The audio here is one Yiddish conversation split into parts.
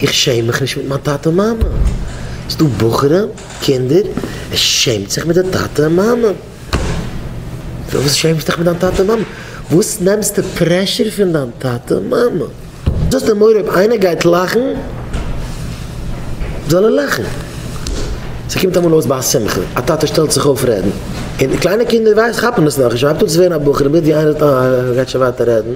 איך שעם מיך נישט מיט מיין טאטע און מאמע. ס'איז דא בחורים, קינדער, ער שעמט זיך מיט די טאטע און מאמע. פארוואס שעמסטו דיך מיט דיין טאטע און מאמע? וואס נעמסטו פרעשור פון דיין טאטע און מאמע? דו האסט א מורא אויב איינער גייט לאכן זאל ער לאכן. ס'קומט אמאל אויס ביי א שמחה, א טאטע שטעלט זיך אויף רעדן, און די קליינע קינדער ווייסט כאפן עס נאכנישט, מ'הייבט אן צו ווערן א בחור און בעת ווי איינער רעדט אהן ער גייט שוין ווייטער רעדן.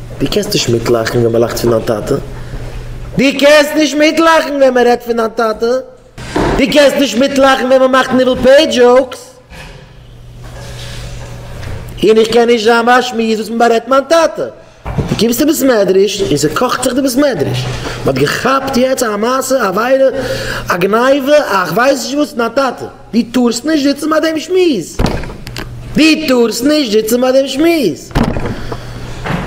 דו קענסט נישט מיטלאכן ווען מען לאכט פון דיין טאטע. דו קענסט נישט מיטלאכן ווען מען רעדט פון דיין טאטע. דו קענסט נישט מיטלאכן ווען מען מאכט ניבול פה דזשאוקס. און איך קען נישט זיין ביי א שמועס וואס מען בארעדט מיין טאטע. דו קומסט אין בית מדרש און ס'קאכט זיך די בית מדרש. מען האט געכאפט יעצט א מעשה, א עבירה, א גניבה, א כ'ווייס נישט וואס, פון דיין טאטע. די טארסט נישט זיצן ביי דעם שמועס. די טארסט נישט זיצן ביי דעם שמועס.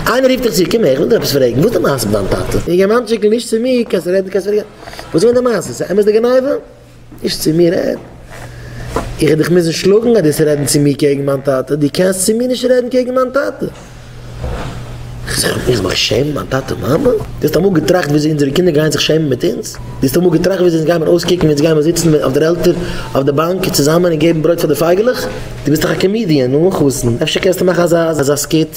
איינער רופט דיך צו, קום הער איך וויל דיר עפעס פרעגן, וואס איז די מעשה מיט דיין טאטע? די יונגערמאנטשיק איז נישט צו מיר, קענסט רעדן קענסט פארגעסן. וואס איז געווען די מעשה? איז אמת די גניבה? נישט צו מיר רעדן. איך וועל דיך מוזן שלאגן אז דו וועסט רעדן צו מיר קעגן מיין טאטע, דו קענסט צו מיר נישט רעדן קעגן מיין טאטע. איך זאג, איך מיך שעמען מיין טאטע און מאמע? דו האסט אמאל געטראכט וויאזוי אונזערע קינדער גייען זיך שעמען מיט אונז? דו האסט אמאל געטראכט וויאזוי אונז גיימיר אויסקוקן ווען אונז גיימיר זיצן אויף דער עלטער אויף די באנק צוזאמען און געבן ברויט פאר די פייגעלעך? דו ביסט דאך א קאמידיען און אן חתן, אפשר קענסטו מאכן אזא אזא סקיט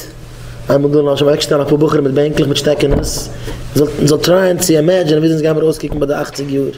איינמאל דא למשל אוועקשטעלן אפאר בחורים מיט בענקלעך מיט שטעקענעס און מ'זאל טרייען צו אימעדזשינען וויאזוי אונז גיימיר אויסקוקן ביי די אכציג יאר?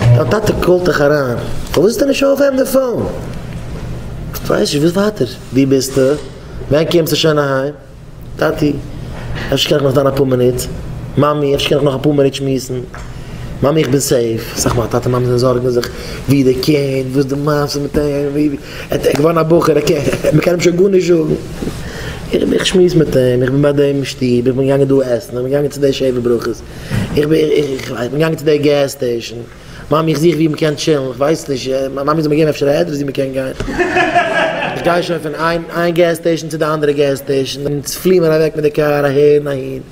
דיין טאטע קאלט דיך אריין, פארוואס זאל ער נישט אויפהייבן די פאון? איך ווייס נישט, וואס ווייטער? וואו ביסטו? ווען קומסטו שוין אהיים? טאטי, אפשר קען איך נאך דאן אפאר מינוט? מאמי, אפשר קען איך נאך אפאר מינוט שמועסן? מאמי, איך בין סעיף. סך מאל טאטע מאמע זיי זארגן זיך וואו די קינד, וואס די מעשה מיט אים, ווי ער איז געווארן א בחור, ער קען, מען קען אים שוין גארנישט זאגן. איך שמועס מיט אים, איך בין ביי דעם אין שטוב, איך בין געגאנגען דא עסן, איך בין געגאנגען צו די שבע ברכות, איך בין געגאנגען צו די געז סטעישאן, מאמי איך זוך ווי מ'קען טשילן, איך ווייס נישט, מאמי זאל מיר געבן אפשר א עדרעס ווי מ'קען גיין, איך גיי שוין פון איין געז סטעישאן צו די אנדערע געז סטעישאן, אונז פלי מיר אוועק מיט די קאר אהער און אהין,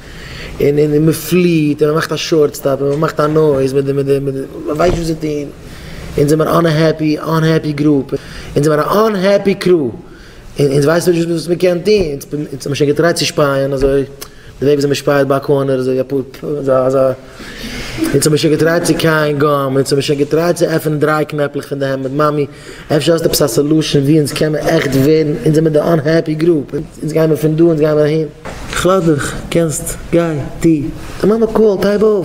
און מ'פליט און מ'מאכט א שארט סטאפ און מ'מאכט א נויז מיט די, מ'ווייסט נישט וואס צו טון, אונז זעמיר אן אנהעפי, אנהעפי גרופ, אונז זעמיר א אנהעפי קרו, און אונז ווייסן נישט וואס מען קען טון, אונז האבן שוין געטרייט צו שפייען אזוי, די וועג וויאזוי מען שפייעט ביי א קארנער אזוי אפאר פ ו אזא אזא, אונז האבן שוין געטרייט צו קייען גאם, אונז האבן שוין געטרייט צו עפענען דריי קנעפלעך פון די העמד, מאמי אפשר האסט עפעס א סעלושען ווי אונז קען מען עכט ווערן, אונז זעמיר די אנהעפי גרופ, אונז גיימיר פון דא אונז גיימיר אהין. איך לאז דיך, קענסט, גיי, טו, די מאמע קאלט, הייב אויף.